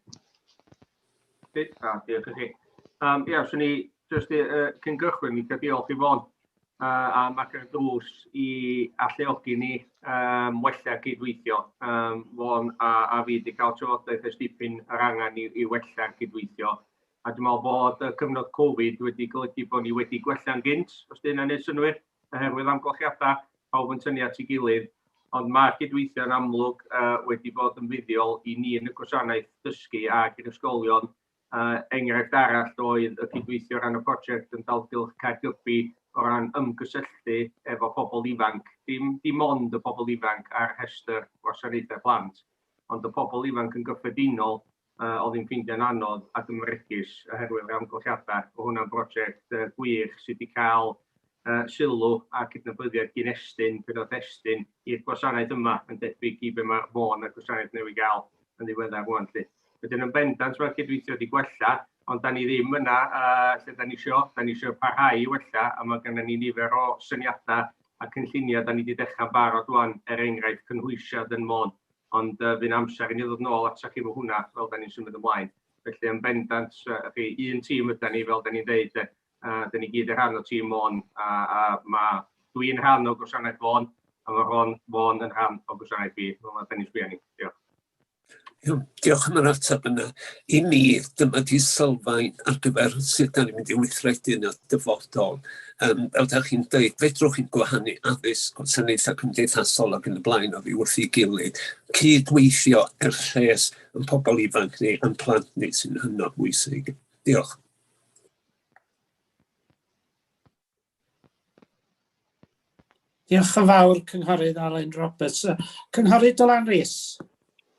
Di, da, diolch i chi. Um, ia, swn i jyst i, uh, cyn gychwyn, mi cael diolch i fod uh, am agor y drws i alluogi ni um, wella cydweithio. Um, Fon a, a fi wedi cael trafodaeth ys dipyn yr angen i, i wella cydweithio. A dwi'n meddwl bod y cyfnod Covid wedi golygu bod ni wedi gwella'n gynt, os dyna wneud synnwyr. oherwydd amgylchiadau, pawb yn tynnu at ei gilydd, ond mae'r cydweithio yn amlwg uh, wedi bod yn fuddiol i ni yn y gwasanaeth dysgu ac i'r ysgolion. Uh, enghraifft arall oedd y cydweithio ran y prosiect yn dalgylch Caergybi o ran ymgysylltu efo pobl ifanc, dim, dim ond y pobl ifanc ar rhestr gwasanaethau plant, ond y pobl ifanc yn gyffredinol Yy, oedd hi'n ffeindio'n anodd ac yn fregus oherwydd yr amgylchiadau. Mae hwnna'n brosiect yy gwych sydd wedi cael yy sylw a cydnabyddiaeth gin Estyn pan oedd Estyn i'r gwasanaeth yma yn debyg i be mae Fôn a'r gwasanaeth newydd gael yn ddiweddar rwan 'lly. Wedyn yn bendant mae'r cydweithio wedi gwella ond da ni ddim yna yy lle da ni isio, da ni isio parhau i wella a mae gennym ni nifer o syniadau a cynlluniau da ni wedi dechrau'n barod rwan er enghraifft cynhwysiad yn Môn Ond yy fu'n amser i ni ddod nôl atach chi fo hwnna fel 'dan ni'n symud ymlaen. Felly yn bendant yy y'ch chi un tîm ydan ni fel 'dan ni'n ddeud de, a 'dan ni gyd yn rhan o tîm Môn a a ma' dwi'n rhan o gwasanaeth Fôn a ma' Rhon Fôn yn rhan o gwasanaeth fi fel 'na 'dan ni'n sbio arni. Diolch. Iawn, diolch am yr ateb yna. I mi, dyma 'di sylfaen ar gyfer sut 'dan ni'n mynd i weithredu yn y dyfodol. Yym, fel dach chi'n dweud, fedrwch chi'n gwahanu addysg, gwasanaethau cymdeithasol ac yn y blaen oddi wrth ei gilydd. Cydweithio er lles yn pobl ifanc ni, yn plant ni sy'n hynod bwysig. Diolch. Diolch yn fawr, Cynghorydd Alun Roberts. Cynghorydd Dylan Rees.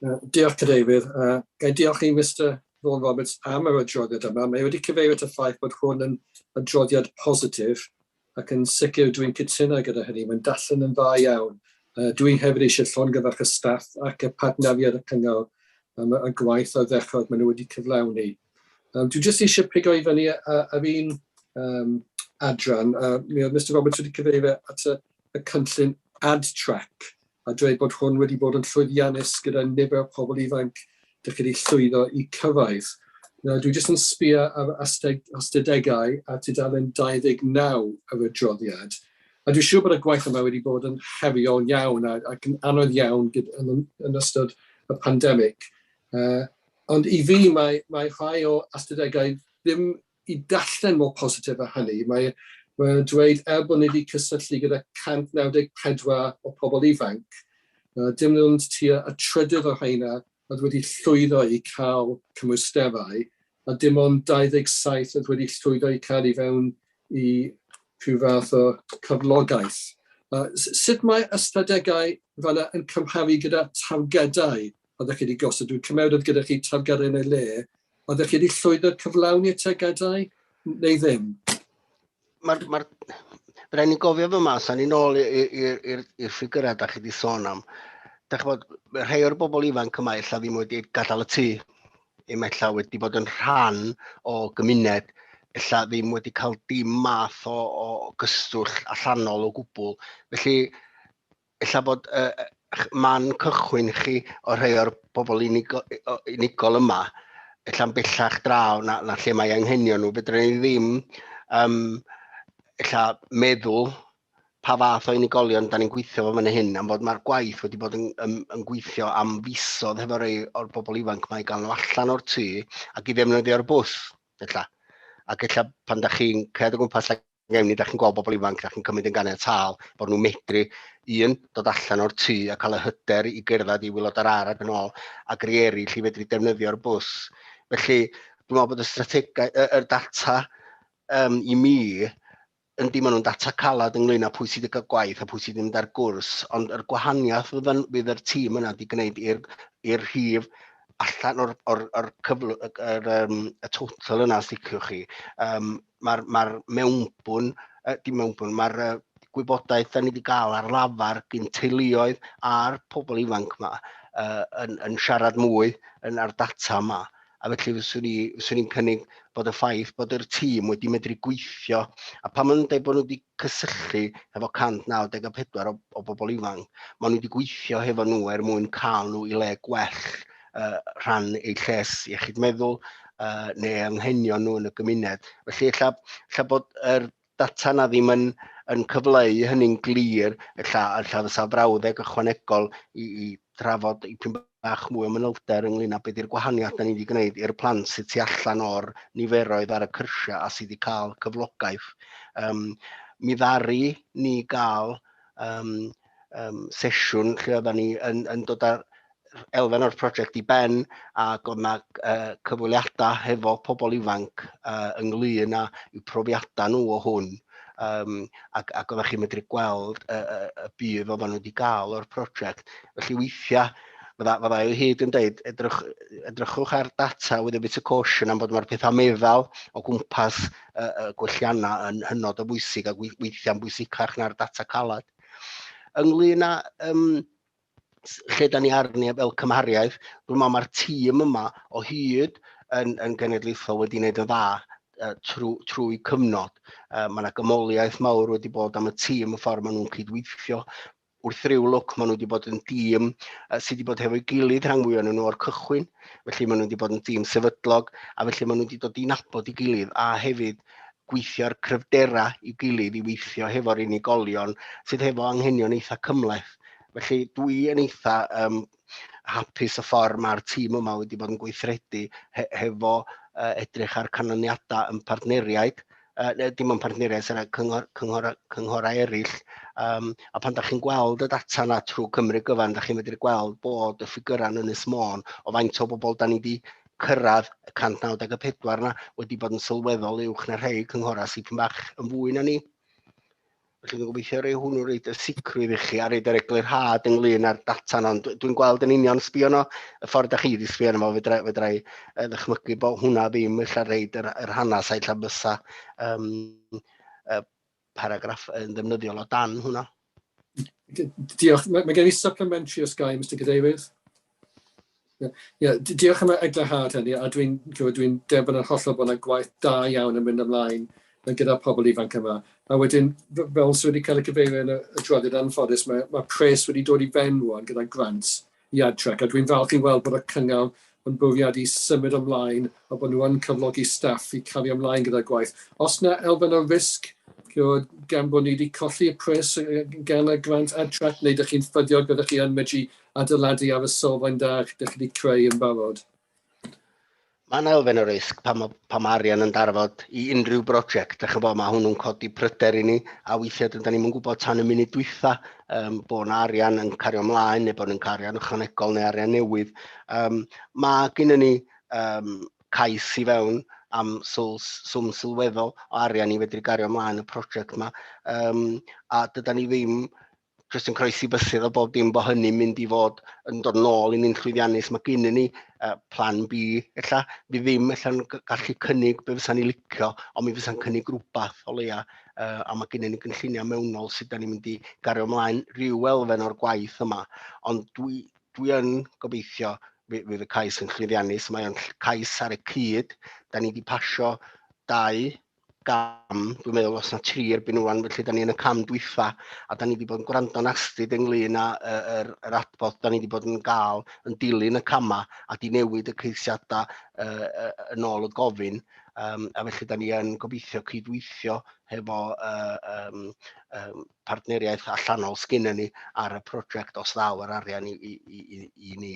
Uh, diolch, Cadeirydd. Uh, gai diolch i Mr Vaughan Roberts am yr adroddiad yma. Mae wedi cyfeirio at y ffaith bod hwn yn adroddiad positif ac yn sicr dwi'n cytuno gyda hynny. Mae'n dallen yn dda iawn. Uh, dwi hefyd eisiau llongyfarch y staff ac y partneriaid y cyngor am y gwaith a ddechrau maen nhw wedi cyflawni. Um, dwi jyst eisiau pigo i fyny ar un um, adran, a mi oedd Mr Roberts wedi cyfeirio at y, y cynllun AdTrack, a dweud bod hwn wedi bod yn llwyddiannus gyda nifer o pobl ifanc dych chi wedi llwyddo i cyfaidd. Nawr, dwi jyst yn sbio ar astudegau a tudalen 29 yr adroddiad, a dwi'n siŵr bod y gwaith yma wedi bod yn heriol iawn ac yn anodd iawn yn, yn ystod y pandemig. Uh, Ond i fi, mae, mae rhai o ystadegau ddim i darllen mor positif â hynny. Mae, mae nhw'n dweud, er bod ni wedi cysylltu gyda 194 o pobl ifanc, uh, dim ond tua y trydydd o rheina oedd wedi llwyddo i cael cymwysterau, a dim ond 27 oedd wedi llwyddo i cael i fewn i rhyw fath o cyflogaeth. Uh, sut mae ystadegau fanna yn cymharu gyda targedau Oeddech chi wedi gosod dwy cymawd oedd gyda chi targaru yn ei le. Oeddech chi wedi llwyddo cyflawni y tegadau neu ddim? Mae'r... Mae Rhaid ni'n gofio fy mas, a ni'n ôl i'r ffigurau da chi wedi sôn am. Da bod, rhai o'r bobl ifanc yma illa ddim wedi gadael y tŷ. Im illa wedi bod yn rhan o gymuned, illa ddim wedi cael dim math o, o gystwll allanol o gwbl. Felly, ella bod uh, man cychwyn chi o rhai o'r bobl unigol, unigol yma, ella'n bellach draw na, na lle mae anghenion nhw. Fedrwn ni ddim um, ella meddwl pa fath o unigolion da ni'n gweithio fo fan hyn, am fod mae'r gwaith wedi bod yn, yn, yn gweithio am fisodd hefo rei o'r bobl ifanc mae gael nhw allan o'r tŷ ac i ddefnyddio'r bws, ella. Ac ella pan da chi'n cred o gwmpas ac Neu ni, da chi'n gweld bobl ifanc, da chi'n cymryd yn ganiataol bod nhw'n medru, un, dod allan o'r tŷ a cael y hyder i gerdded i wylod yr ar ac yn ôl, ac rei eraill i fedru defnyddio'r bws. Felly, dwi'n meddwl bod y strategau, y, y data um, i mi, yn dim ond yn data calad ynglyn â pwy sydd wedi cael gwaith a pwy sydd wedi mynd ar gwrs, ond yr gwahaniaeth fydd, yn, fydd yr tîm yna wedi gwneud i'r rhif allan o'r, or, or cyfl, yr, um, y total yna, os liciwch chi, um, mae'r ma mewnbwn, uh, dim mewnbwn, mae'r uh, gwybodaeth da ni wedi cael ar lafar gyn teuluoedd a'r pobl ifanc yma uh, yn, yn siarad mwy yn ar data yma. A felly fyswn i'n ni, cynnig bod y ffaith bod yr tîm wedi medru gweithio, a pan maen nhw'n dweud bod nhw wedi cysylltu efo 194 o, o bobl ifanc. Maen nhw wedi gweithio hefo nhw er mwyn cael nhw i le gwell uh, rhan eu lles iechyd meddwl uh, neu anghenion nhw yn y gymuned. Felly, ella, ella bod yr er data na ddim yn, yn cyfleu hynny'n glir, ella, ella fysa brawddeg ychwanegol i, i trafod dipyn bach mwy o manylder ynglyn â beth ydy'r gwahaniaeth da ni wedi gwneud i'r plant sydd tu allan o'r niferoedd ar y cyrsiau a sydd wedi cael cyflogaeth. Um, mi ddari ni gael um, um, sesiwn lle oedden ni yn, yn dod â elfen o'r prosiect i ben ac oedd yna uh, cyfweliadau hefo pobl ifanc uh, ynglyn â i'w profiadau nhw o hwn um, ac, ac oeddech chi'n medru gweld y, y, y budd oedden nhw wedi gael o'r prosiect. Felly weithiau, fydda, fydda i hyd yn dweud, edrych, edrychwch ar data with a bit of caution am bod mae'r pethau meddal o gwmpas y, y gwelliannau yn hynod o bwysig ac weithiau'n bwysicach na'r data calad. Ynglyn â um, lle da ni arni fel cymhariaeth, dwi'n meddwl mae'r tîm yma o hyd yn, yn genedlaethol wedi gwneud yn dda uh, trwy, trwy cyfnod. Uh, mae yna gymoliaeth mawr wedi bod am y tîm y ffordd maen nhw'n cydweithio. Wrth ryw lwc maen nhw wedi bod yn dîm uh, sydd wedi bod hefo'i gilydd rhan fwy o'n nhw o'r cychwyn, felly maen nhw wedi bod yn dîm sefydlog, a felly maen nhw wedi dod i nabod i gilydd, a hefyd gweithio'r cryfderau i'w gilydd i weithio hefo'r unigolion sydd hefo anghenion eitha cymleth. Felly dwi yn eitha um, hapus y ffordd mae'r tîm yma wedi bod yn gweithredu he hefo uh, edrych ar canlyniadau yn partneriaid, uh, dim yn partneriaid, sy'n cyngor, cyngor, cynghorau eraill. Um, a pan da chi'n gweld y data yna trwy Cymru gyfan, da chi'n medru gweld bod y ffigurau yn Ynys Môn o faint o bobl da ni wedi cyrraedd y 194 yna wedi bod yn sylweddol uwch na rhai cynghorau sydd pyn bach yn fwy na ni. Felly dwi'n gobeithio rei hwnnw reid y sicrwydd i chi a reid yr eglurhad ynglyn â'r data yna. Dwi'n gweld yn union sbio yno, y ffordd da chi wedi sbio yno, fedra, fedra i uh, ddychmygu bod hwnna ddim eich reid yr, yr hanes a eich bysa um, uh, paragraff yn ddefnyddiol o dan hwnna. Diolch. Mae, mae gen i supplementary os gai, Mr Cadeirydd. Yeah, yeah, diolch am y eglurhad hynny, a dwi'n dwi, dwi derbyn yn hollol bod yna gwaith da iawn yn mynd ymlaen yn gyda pobl ifanc yma. A wedyn, fel sydd wedi cael y cyfeirio yn y, y drwydded anffodus, mae, mae pres wedi dod i ben rwan gyda grant Iadtrec, a dwi'n falch i weld bod y Cyngor yn bwriadu i symud ymlaen a bod nhw yn cyflogi staff i cario ymlaen gyda'r gwaith. Oes yna elfen o risg gan bod ni wedi colli y pres gan y grant Iadtrec, neu dych chi'n ffyddiog bod chi yn medru adeiladu ar y sylfaen da dych chi wedi creu yn barod? Mae'n elfen o risg pan mae, pan mae arian yn darfod i unrhyw brosiect. Dych chymod, mae hwnnw'n codi pryder i ni, a weithiau dyna ni'n gwybod tan y munud dwytha um, bod yna arian yn cario ymlaen, neu bod yn cario arian ychwanegol neu arian newydd. Um, mae gennym ni um, cais i fewn am swm sylweddol o arian i fedru gario ymlaen y prosiect yma, um, a dyda ni ddim Chris yn croesi bysedd o bob dim bod hynny'n mynd i fod yn dod nôl i ni'n llwyddiannus. Mae gynnu ni uh, plan B, ella, fi ddim ella'n gallu cynnig be fysa'n ni licio, ond mi fysa'n cynnig rhywbeth o leia, uh, a mae gynnu ni gynlluniau mewnol sydd da ni'n mynd i gario ymlaen rhyw elfen o'r gwaith yma. Ond dwi, dwi yn gobeithio fydd y cais yn llwyddiannus, mae o'n cais ar y cyd, da ni wedi pasio dau gam, dwi'n meddwl os na tri erbyn rwan, felly da ni yn y cam dwyfa, a da ni wedi bod yn gwrando'n astyd ynglyn â y, yr, yr adborth da ni wedi bod yn gael yn dilyn y camau a di newid y ceisiadau uh, uh, yn ôl y gofyn, um, a felly da ni yn gobeithio cydweithio hefo uh, um, um, partneriaeth allanol sgyn ni ar y prosiect os ddaw yr arian i, i, i, i ni.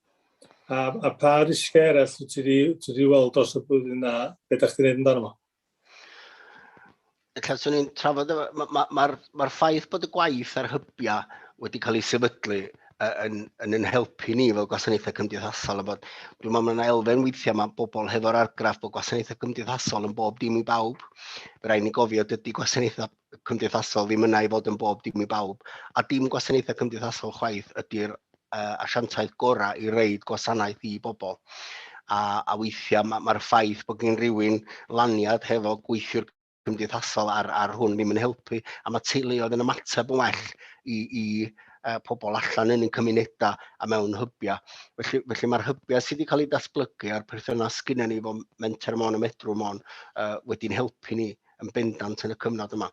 A, a pa risgiau eraill wyt ti wedi weld dros y blwyddyn a beth ydych chi'n gwneud amdano fo? Ella swn i'n trafod, mae'r ma, ma, ma ffaith bod y gwaith ar hybiau wedi cael ei sefydlu yn, yn yn helpu ni fel gwasanaethau cymdeithasol. Bod, dwi'n meddwl mae'n elfen weithiau mae bobl hefo'r argraff bod gwasanaethau cymdeithasol yn bob dim i bawb. Rhaid ni gofio dydy gwasanaethau cymdeithasol ddim yna i fod yn bob dim i bawb, a dim gwasanaethau cymdeithasol chwaith ydy'r uh, asiantaeth gorau i reid gwasanaeth i bobl. A, a weithiau mae'r ma ffaith bod gen rhywun laniad hefo gweithiwr cymdeithasol ar, ar hwn ddim yn helpu, a mae teuluoedd yn ymateb yn well i, i uh, pobl allan yn ein cymunedau a mewn hybiau. Felly, felly mae'r hybiau sydd wedi cael eu datblygu a'r perthynas gyda ni fo menter mon y medrw mon uh, wedi'n helpu ni yn bendant yn y cyfnod yma.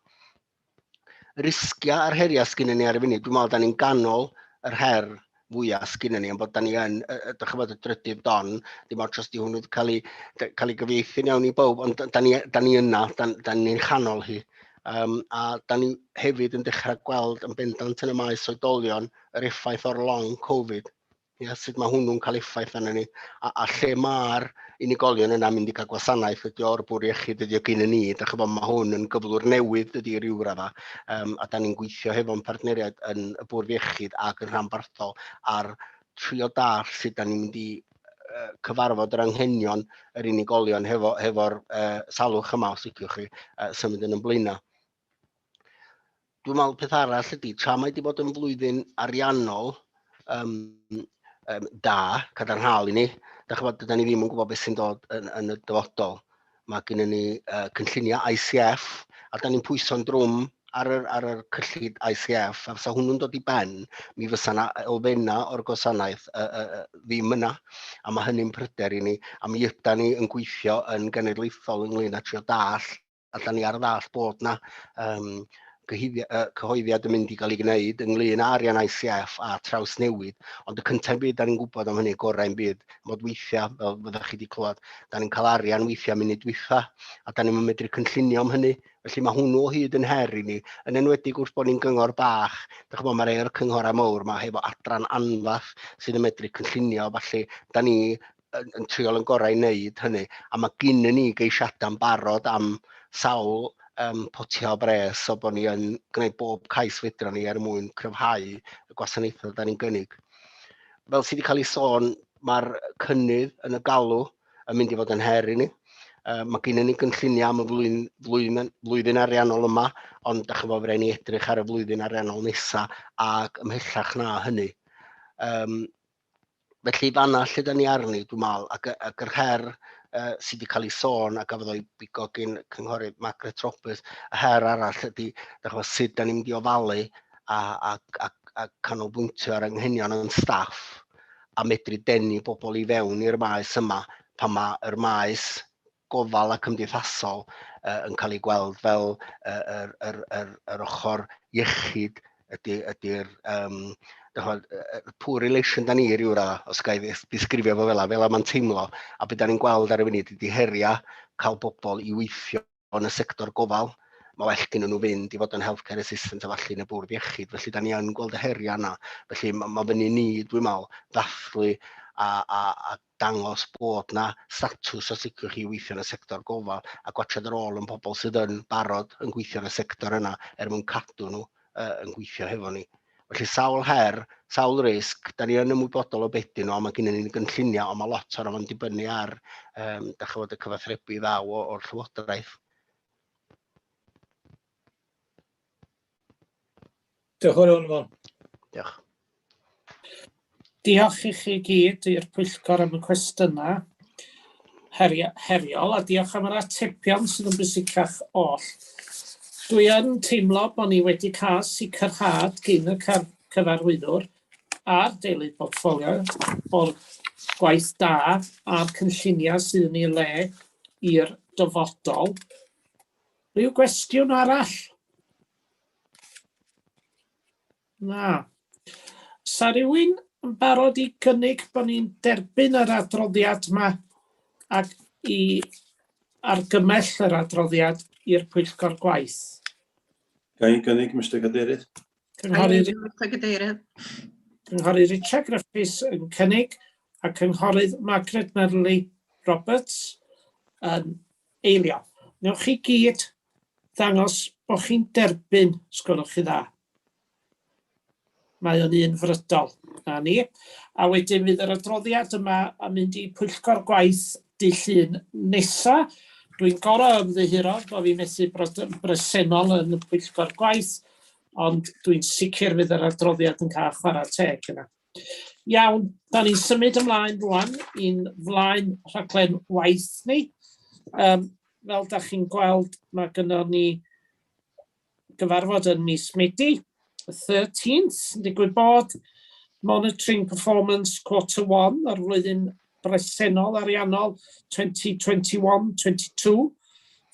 Y risgiau a'r heriau sgynny ni ar y funud, dwi'n meddwl, da ni'n ganol yr her fwyaf sgynny ni, ond bod da ni yn, ydych chi'n bod y drydydd don, dim ond os di hwnnw wedi cael ei, cael ei gyfeithi iawn i bawb, ond da ni, da ni yna, da, da ni'n chanol hi. Um, a da ni hefyd yn dechrau gweld yn bendant yn y maes oedolion yr effaith o'r long Covid Ia, sut mae hwnnw'n cael effaith arnyn ni, a, a lle mae'r unigolion yna mynd i cael gwasanaeth ydy o'r bwr iechyd ydy o gyn yn ni. Da chi bod, mae hwn yn gyflwr newydd dydy i ryw radda, um, a da ni'n gweithio hefo'n partneriaid yn y bwrdd iechyd ac yn rhanbarthol ar trio dall sut da ni'n mynd i uh, cyfarfod yr anghenion yr unigolion hefo'r hefo, hefo uh, salwch yma, os ydych chi, uh, symud yn ymlaenau. dwi'n meddwl peth arall ydy, tra mae wedi bod yn flwyddyn ariannol um, um, da, cadarnhaol i ni, da chi'n bod, da ni ddim yn gwybod beth sy'n dod yn, yn y dyfodol. Mae gen ni uh, cynlluniau ICF, a da ni'n pwyso'n drwm ar yr, ar yr cyllid ICF, a fysa hwnnw'n dod i ben, mi fysa yna elfennau o'r gwasanaeth uh, uh, uh, ddim yna, a mae hynny'n pryder i ni, a mi yda ni yn gweithio yn genedlaethol ynglyn â trio dall a da ni ar y ddall bod yna um, cyhoeddiad yn mynd i gael ei gwneud ynglyn â arian ICF a traws newid, ond y cyntaf byd, da ni'n gwybod am hynny gorau yn byd, mod weithiau, fel fyddwch chi wedi clywed, da ni'n cael arian weithiau munud weitha, a da ni'n medru cynllunio am hynny. Felly mae hwnnw o hyd yn her i ni, yn enwedig wrth bod ni'n gyngor bach, da chymod mae rhai o'r cynghorau mawr, mae hefo adran anfath sydd yn medru cynllunio, falle da ni yn, yn triol yn gorau i wneud hynny. A mae gynnu ni geisiadau'n barod am sawl um, potia o bres o bod ni yn gwneud bob cais fedra ni er mwyn cryfhau y gwasanaethau da ni'n gynnig. Fel sydd wedi cael ei sôn, mae'r cynnydd yn y galw yn mynd i fod yn her i ni. Uh, mae gennym ni gynlluniau am y flwyddyn, flwyddyn, flwyddyn ariannol yma, ond da chybod fe ni edrych ar y flwyddyn ariannol nesaf ac ymhellach na hynny. Um, Felly fanna lle da ni arni, dwi'n meddwl, ac, ac yr her uh, sydd wedi cael ei sôn a gafodd o'i bigo gyn cynghorydd Margaret Roberts, y her arall ydy, da chwa, sut da ni'n mynd i ofalu a, a, a, a canolbwyntio ar anghenion yn staff a medru denu bobl i fewn i'r maes yma pan mae'r maes gofal a cymdeithasol uh, yn cael ei gweld fel uh, yr, yr, yr, yr ochr iechyd ydy'r ydy um, poor relation da ni rhyw ra, os gael ei ddisgrifio fo fel fel mae'n teimlo, a beth da ni'n gweld ar y funud ydy heriau cael bobl i weithio yn y sector gofal, mae well gen nhw fynd i fod yn healthcare assistant a falle yn y bwrdd iechyd. Felly, da ni yn gweld y heriau yna. Felly, mae ma fyny ni, dwi'n meddwl, ddathlu a, a, a dangos bod 'na statws a sicrwydd chi i weithio yn y sector gofal a gwatsiad yr ôl yn pobl sydd yn barod yn gweithio yn y sector yna er mwyn cadw nhw uh, yn gweithio hefo ni. Felly sawl her, sawl risg, da ni yn ymwybodol o beth dyn nhw, a mae gennym ni'n gynlluniau, ond mae lot o'r o'n dibynnu ar, um, da chi fod y cyfathrebu ddaw o'r llywodraeth. Diolch yn fawr, Fon. Diolch. Diolch i chi gyd i'r pwyllgor am y cwestiynau heriol a diolch am yr atebion sydd yn bwysicach oll. Dwi yn teimlo bod ni wedi cael sicrhad gyn y cyfarwyddwr a'r deilydd portffolio o'r gwaith da a'r cynlluniau sydd yn ei le i'r dyfodol. Rhyw gwestiwn arall? Na. Sa rhywun yn barod i gynnig bod ni'n derbyn yr adroddiad yma ac i argymell yr adroddiad i'r pwyllgor gwaith? Ga i'n gynnig, Mr Cadeirydd? Cynghorydd... Mr Cadeirydd. Cynghorydd Richard Griffiths yn cynnig a cynghorydd Margaret Merley Roberts yn Eilio. Wnewch chi gyd ddangos bod chi'n derbyn, os gwelwch chi dda. Mae o'n un frydol. Na ni. A wedyn fydd yr adroddiad yma yn mynd i pwyllgor gwaith dy llun nesa. Dwi'n gorau ymddiheuro bod fi methu bod yn bresennol yn y pwyllgor gwaith, ond dwi'n sicr fydd yr adroddiad yn cael chwarae teg yna. Iawn, da ni'n symud ymlaen rwan i'n flaen rhaglen waith ni. Um, fel da chi'n gweld, mae gyda ni gyfarfod yn mis Medi, 13th, yn digwydd bod Monitoring Performance Quarter 1 o'r flwyddyn bresennol ariannol 2021-22,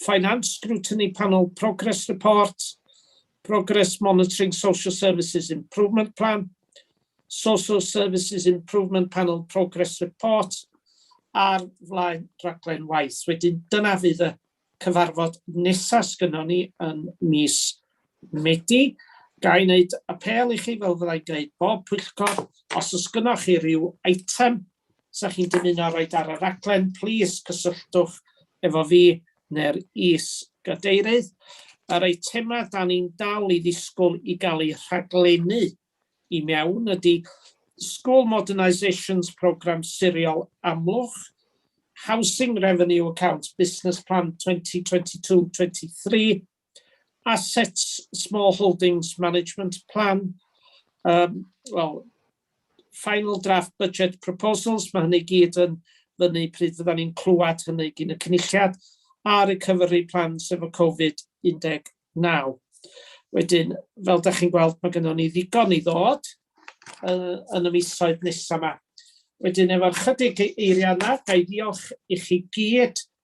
Finance Scrutiny Panel Progress Report, Progress Monitoring Social Services Improvement Plan, Social Services Improvement Panel Progress Report, a'r flaen rhaglen waith. Wedyn dyna fydd y cyfarfod nesaf sgynnon ni yn mis Medi. Ga i wneud apel i chi, fel fyddai'n gwneud bob pwyllgor, os oes gynnwch chi ryw eitem 'Sa chi'n dymuno roi ar y rhaglen, plis cysylltwch efo fi neu'r Is-gadeirydd. Yr eitemau 'da ni'n dal i ddisgwyl i gael eu rhaglennu i mewn ydy School Modernisations Programme Siriol Amlwch, Housing Revenue Account Business Plan 2022-23, Assets Small Holdings Management Plan, um, well, final draft budget proposals, mae hynny gyd yn fyny pryd fydda ni'n clywed hynny gyn y cynulliad, a recovery plans efo Covid-19. Wedyn, fel da chi'n gweld, mae gennym ni ddigon i ddod uh, yn y misoedd nesaf yma. Wedyn, efo'r chydig eiriau yna, ga i ddiolch i chi gyd